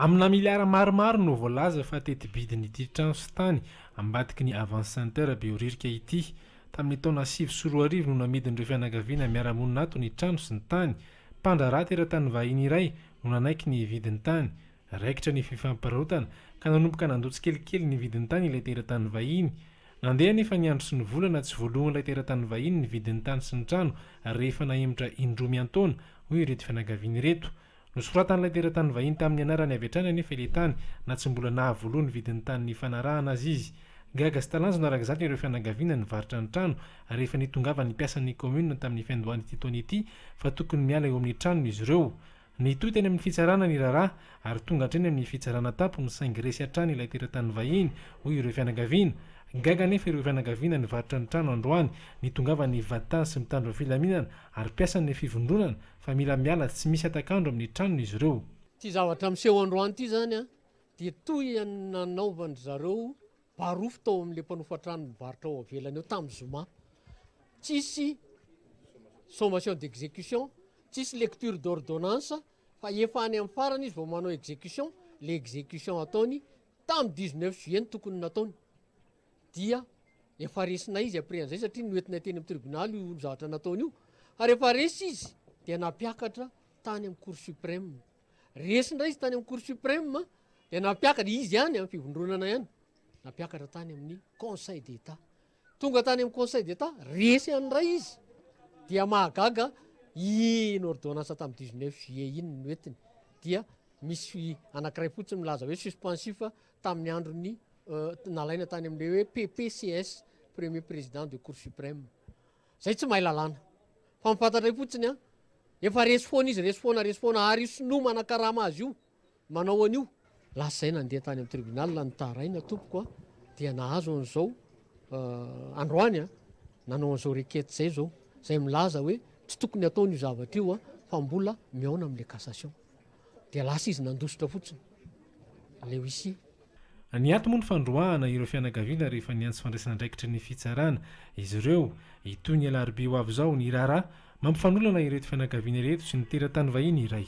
Amina miliara maromaro no voalaza fa teti-bidin'ity trano sy tany ambadiky ny Avance Center Behoririka ity. Tamin'ny taona sivy sy roa arivo no namidin'ireo fianakaviana miara-monina ato ny trano sy ny tany. Mpandraharaha teratany vahiny iray no nanaiky ny hividy ny tany. Raikitra ny fifampiraotana ka nanomboka nandoa tsikelikely ny vidin-tany ilay teratany vahiny. Nandeha anefa ny andro sy ny volana, tsy voaloan'ilay teratany vahiny ny vidin'ny tany sy ny trano rehefa nahemotra indroa miantaona, hoy ireto fianakaviana ireto. Nosoratan'ilay teratany vahiny tamin'ny anarany avy hatrany anefa ilay tany na tsy mbola nahavoaloa ny vidin'ny tany nifanarahana aza izy. Gaga sy talanjona araka izany ireo fianakaviana nivarotra ny trano rehefa nitongavan'ny mpiasan'ny kaominina tamin'ny fiandohan'ity taona ity fa tokony miala eo amin'ny tranony izy ireo. Nitohy teny amin'ny fitsarana ny raharaha ary tonga hatreny amin'ny fitsarana an-tampony saingy resy hatrany ilay teratany vahiny, hoy ireo fianakaviana. Gaga anefa ireo fianakaviana nivarotra ny trano androany, nitongavan'ny mpivadi-tany sy mpitandro ny filaminana ary mpiasan'ny fivondronana fa mila miala tsy misy hatak'andro amin'ny tranony izy ireo. Ity zavatra miseho androany ity izany dia toy ny nanaovan-dry zareo Barofo tao amin'ilay mpanofa trano mivarotra ao avelany eo tamin'ny zoma. Tsisy sommation d'exécution, tsisy lecture d'ordonnance fa efa any amin'ny farany izy vao manao exécution, ilay exécution ataony tamin'ny 19 juillet no tokony nataony. Dia efa resinay izy après an'izay satria noentinay teny amin'ny tribunaly io zavatra nataony io. Fa rehefa resy izy dia nampiakatra tany amin'ny Cour suprême. Resy indray izy tany amin'ny Cour suprême dia nampiakatra izy ihany amin'ny fivondronana ihany nampiakatra tany amin'ny Conseil d'État. Tonga tany amin'ny Conseil d'État, resy ihany indray izy. Dia mahagaga iny ordonnance tamin'ny 19 juillet iny ny hoetiny. Dia misy anankiray fotsiny milaza hoe suspensif tamin'ny andron'ny euh, nalaina tany amin'ilay hoe PPCS, Premier Président de Cour suprême. Zay tsy mahay lalàna. Fa ny fantatray fotsiny an, efa resy foana izy, resy foana, resy foana, ary io sinoa manakarama azy io, manao an'io. Lasa izay nandeha tany amin'ny tribunal ny Taharaina tompoko an, dia nahazo an'izao androany an, nanao an'izao requête izay izao, izay milaza hoe tsy tokony ataony io zavatra io an, fa mbola mihaona amin'ilay cassation. Dia lasa izy nandositra fotsiny. Leo ici. Ny ato moa ny fandroahana ireo fianakaviana rehefa niantso fandraisan'andraikitry ny fitsarana izy ireo. Hitohy ny alarobia ho avy izao ny raharaha mampifanolana ireto fianakaviana ireto sy ny teratany vahiny iray.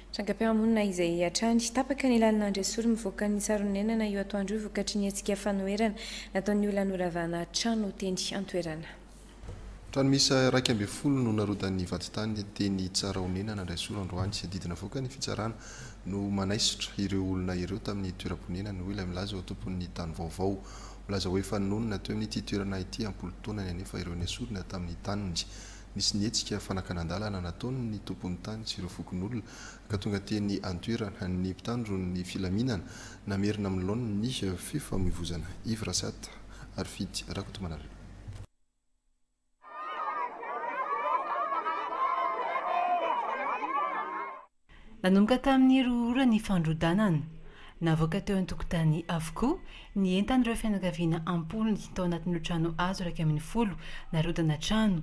Trangam-piarahamonina izay hatrany, tapaka ny lalin'Andriasory mivoaka ny Tsaronenana io atoandro io vokatry ny hetsika fanoherana nataon'ny olona noravana trano teny an-toerana. Trano miisa iraika ambin'ny folo no narodan'ny vadintany teny Tsarahonena Andraisoro androany sy didy navoaka ny fitsarana no manaisotra ireo olona ireo tamin'ny toeram-ponenany, hoy ilay milaza ho tompon'ny tany vaovao. Milaza hoe efa nonina teo amin'ity toerana ity am-polo taonany anefa ireo nesorina tamin'ny taniny. Nisy ny hetsika fanakanan-dalana nataon'ny tompon'ny tany sy ireo fokonolona ka tonga teny an-toerana ny mpitandron'ny filaminana namerina amin'ny laoniny ny fifamoivozana. Yves Rasata, Arifity Rakotomanarivo. Nanomboka tamin'ny roa ora ny fandrodanana. Navoaka teo an-tokotany avokoa ny entan'ireo fianakaviana am-polony tao anatin'ireo trano hazo iraika ambin'ny folo narodana trano.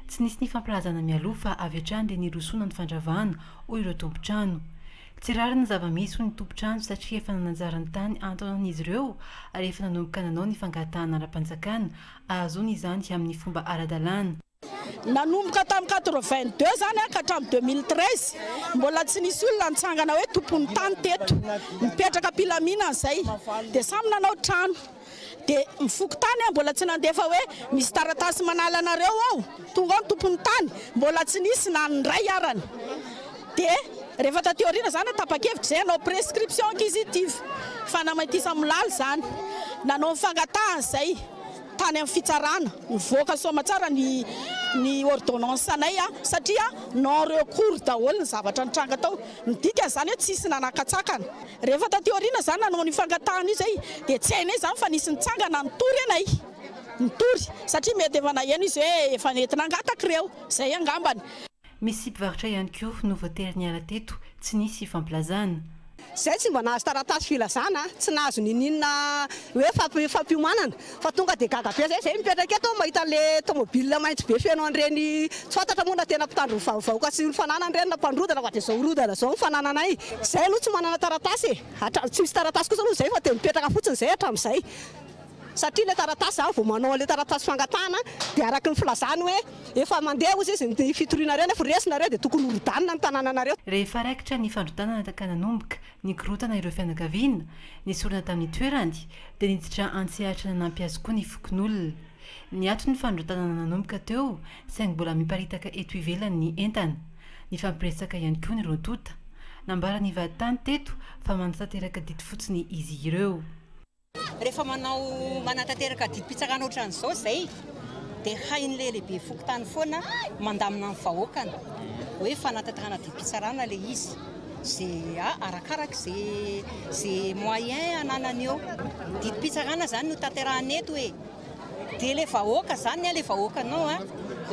Tsy nisy nifampilazana mialoha fa avy hatrany dia nirosoana ny fandravana, hoy ireo tompon-trano. Tsy rariny zava-misy ho ny tompon-trano satria efa nanajara ny tany an-taonany izy ireo ary efa nanomboka nanao ny fangatahana ara-panjakana ahazoana izany amin'ny fomba ara-dalàna. Nanomboka tamin'ny quatre-vingt-deux izany ka hatramin'ny deux mille treize, mbola tsy nisy olona nitsangana hoe tompon'ny tany teto. Nipetraka am-pilaminana izay dia samy nanao trano. Dia ny fokontany an mbola tsy nandefa hoe misy taratasy manala anareo ao, tonga ao ny tompon'ny tany, mbola tsy nisy na ny iray arany. Dia rehefa taty aoriana izany tapa-kevitra izay hanao prescription acquisitive, fanamaitisa milaly izany. Nanao ny fangatahany izay tany amin'ny fitsarana, nivoaka soamatsara ny ny ordonnance anay satria non recours daholo ny zavatra nitranga tao. Midika izany hoe tsisy nanakatsakana. Rehefa taty aoriana za nanao an'io fangatahana io zay dia tsy hainay izany fa nisy nitsangana nitory anay. Nitory. Satria mety efa naheno izy hoe efa nety nangataka ireo. Zay angambany. Misy mpivarotra ihany koa no voatery niala teto tsy nisy fampilazana. Zay tsy mba nahazo taratasy filazana, tsy nahazo ninininona hoe fampiomanana. Fa tonga dia gaga be zay mipetraka eto mahita an'le tomobile maitso be feno an'ireny tsy fantatra moa na tena mpitandro ny vahoka sy ny fananany ireny na mpanorodana fa dia izao horodana izao ny fanananay izay aloha tsy manana taratasy e! hatramin'ny tsy misy taratasy kosa aloha izay fa dia mipetraka fotsiny izay hatramin'izay satria ilay taratasy za vao manao an'ilay taratasy fangatahana dia araka ny filazany hoe efa mandeha hozy izy ny fitoriana ireny efa resy nareo dia tokony horodanina ny tanananareo. Rehefa raikitra ny fandrodanana ka nanomboka Nikorontana ireo fianakaviana, ny sorona tamin'ny toerany, dia niditra an-tsehatra nanampy azy koa ny fokonolona. Niato ny fandrotanana nanomboka teo, saingy mbola miparitaka eto ivelany ny entana. Nifampiresaka ihany koa ny roa tonta. Nambaran'ny vaditany teto fa manatanteraka didy fotsiny izy ireo. Rehefa manao manatanteraka didim-pitsarana ohatran'izao izay dia hain'ilay lehibe fokontany foana mandamina ny vahoakany hoe fanatanterahana didim-pitsarana ilay izy. Izay a- arakaraka izay izay moyen ananany eo. Didim-pitsarana izany no tanterahana eto e! Dia le vahoaka zany a le vahoakanao a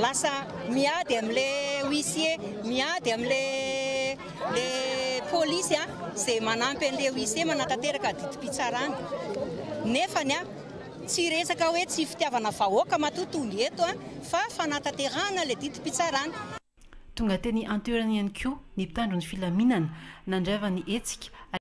lasa miady am le huissier miady am le le polisy a ze manampy an le huissier manatanteraka adidim-pitsarana nefany a tsy resaka hoe tsy fitiavana vahoaka matoa tonga eto a fa fanatanterahana le didim-pitsarana. Tonga teny an-toerana ihany koa ny mpitandro ny filaminana nandrava ny hetsika ary.